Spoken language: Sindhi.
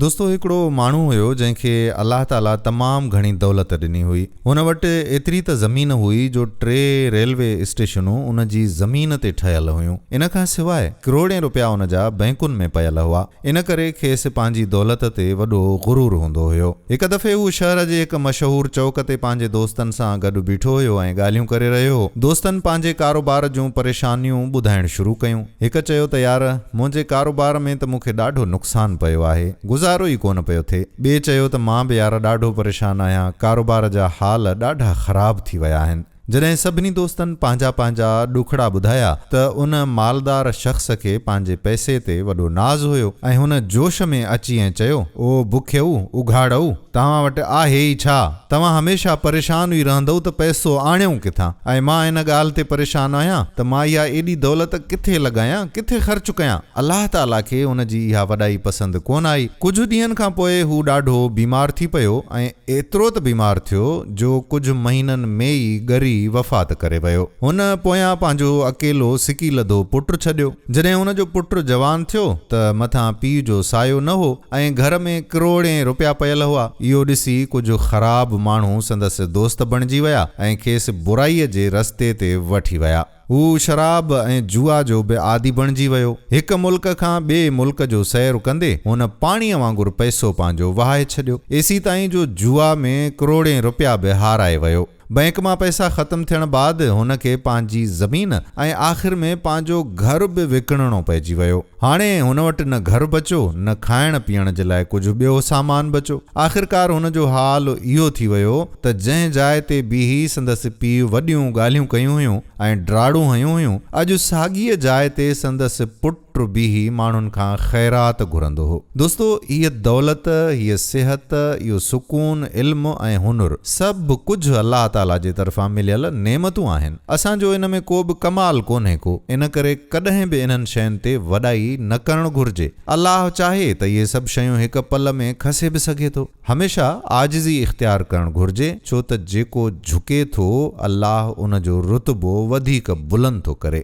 دوستو هڪڙو ماڻهو هيو جنهن کي الله تعاليٰ تمام گهڻي دولت ڏني هئي. هن وٽ ايتري ته زمين هئي جو ٽي ريلوي اسٽيشنون ان جي زمين تي ٺهيل هيون. ان کان سواء ڪروڙين رپيا ان جا بئنڪن ۾ پيل هئا. ان ڪري کيس پنهنجي دولت تي وڏو غرور هوندو هيو. هڪ دفعي هو شهر جي هڪ مشهور چوڪ تي پنهنجي دوستن سان گڏ بيٺو هيو ۽ ڳالهيون ڪري رهيو هو. دوستن پنهنجي ڪاروبار جون پريشانيون ٻڌائڻ شروع ڪيون. هڪ چيو ته يار منهنجي ڪاروبار ۾ ته مون کي ڏاڍو نقصان پيو آهي، گذارو ئي ڪونه پيو ٿئي. ٻئي چيو ته مان به يار ڏاڍو پريشان آهيان، ڪاروبار جا حال ڏاڍا خراب ٿي ويا آهن. جڏهن سڀني دوستن پنهنجا پنهنجا ڏکڙا ٻڌايا ته ان مالدار شخص کي پنهنجي پئسي تي وڏو ناز هيو ۽ هن جوش ۾ اچي ائين چيو، او بکيئو! اگهاڙئو! توهان وٽ آهي ئي ڇا؟ توهان هميشه پريشان ئي رهندؤ ته پئسو آڻيئون ڪٿان؟ ۽ مان ان ڳالهه تي پريشان آهيان ته مان اها ايڏي دولت ڪٿي لڳايان، ڪٿي خرچ ڪيان؟ الله تعاليٰ کي ان جي اها وڏائي پسند ڪونه آئي. ڪجهه ڏينهن کان پوء هو ڏاڍو بيمار ٿي پيو ۽ ايترو ته بيمار ٿيو جو ڪجهه مهينن ۾ ئي ڳري وفات ڪري ويو. هن پويان پنهنجو اڪيلو سڪي لڌو پٽ ڇڏيو. جڏهن هن جو پٽ جوان ٿيو ته مٿان پيء جو سايو نه هو ۽ گهر ۾ ڪروڙين روپيا پيل هئا. اهو ڏسي ڪجهه خراب ماڻهو سندس دوست بڻجي ويا ۽ کيس برائيء جي رستي تي وٺي ويا. هو شراب ۽ جوا جو به عادي بڻجي ويو. هڪ ملڪ کان ٻئي ملڪ جو سير ڪندي هن پاڻيء وانگر پئسو پنهنجو وهائي ڇڏيو. ايسي تائين جو جوا ۾ ڪروڙين روپيا به هارائي ويو. بئنڪ مان پئسا ختم ٿيڻ بعد هن کي پنهنجي زمين ۽ آخر ۾ پنهنجو گهر به وڪڻڻو پئجي ويو. هاڻي هن وٽ نه گهر بچو نه کائڻ پيئڻ جي لاء ڪجهه ٻيو سامان بچو. آخرڪار هن جو حال اهو ٿي ويو ته جنهن جاء تي بيهي سندس پيء وڏيون ڳالهيون ڪيون هيون ۽ ڊراڙون هنيون هيون اڄ ساڳيء جاء تي سندس پٽ پٽ بيهي ماڻهن کان خيرات گهرندو هو. دوستو! هيء دولت، هيء صحت، اهو سڪون، علم ۽ هنر، سڀ ڪجهه الله تعاليٰ جي طرفان مليل نعمتون آهن. اسان جو ان ۾ ڪو به ڪمال ڪونهي ڪو، ان ڪري ڪڏهن به انهن شين تي وڏائي نه ڪرڻ گهرجي. الله چاهي ته اهي سڀ شيون هڪ پل ۾ کسي به سگهي ٿو. هميشه عاجزي اختيار ڪرڻ گهرجي، ڇو ته جيڪو جهڪي ٿو، الله ان جو رتبو وڌيڪ بلند ٿو ڪري.